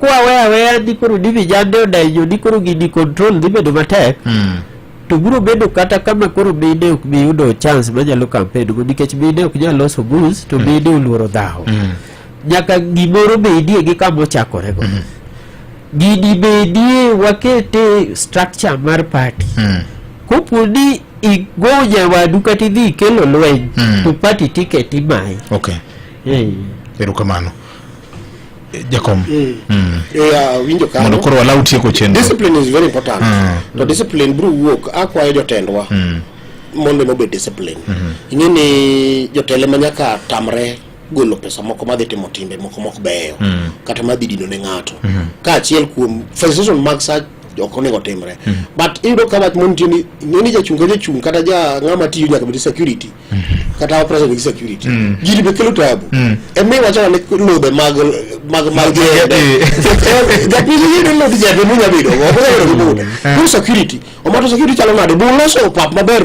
kwaweyo aweya ni koro ni vijande odenyo ni koro gini control dhi bedo matek Mm. to biro bedo kata kama koro mine ok bi yudo chance manyalo campaign go nikech mine ok nyal loso bus to mine oluoro dhawo Mm. nyaka gimoro bedie gi kama ochakorego gini bedie wakete structure mar party Mm. kopo ni igo nyawadu kata idhi ikelo lweny Mm. to party ticket imayi Okay. Eh. Erokamano. Eh, Jakom. Mm. Mm. Yeah, winjo kano. Mondo koro wala utieko chenro. Discipline is very important. Mm. To discipline bro wuok akwayo jotendwa. Mm. Mondo no be discipline. Mm -hmm. Ing'e ni jotele ma nyaka tamre golo pesa moko madhi timo timbe moko mok beyo mm. kata madhi dino ne ng'ato mm -hmm. ka achiel kuom facilitation mag sa ok onego timre mm -hmm. but iyudo ka wach montie ni ng'eni jachung' ka jachung' kata ja ng'ama tiyo nyaka bed security kata operation gi security mm. gini be kelo tabu mm. e mi wacho ne lobe mag mag mag jebe japili ni ne lobe jebe munya bido go ko ko ko security o mato security chalo nade bu loso pap maber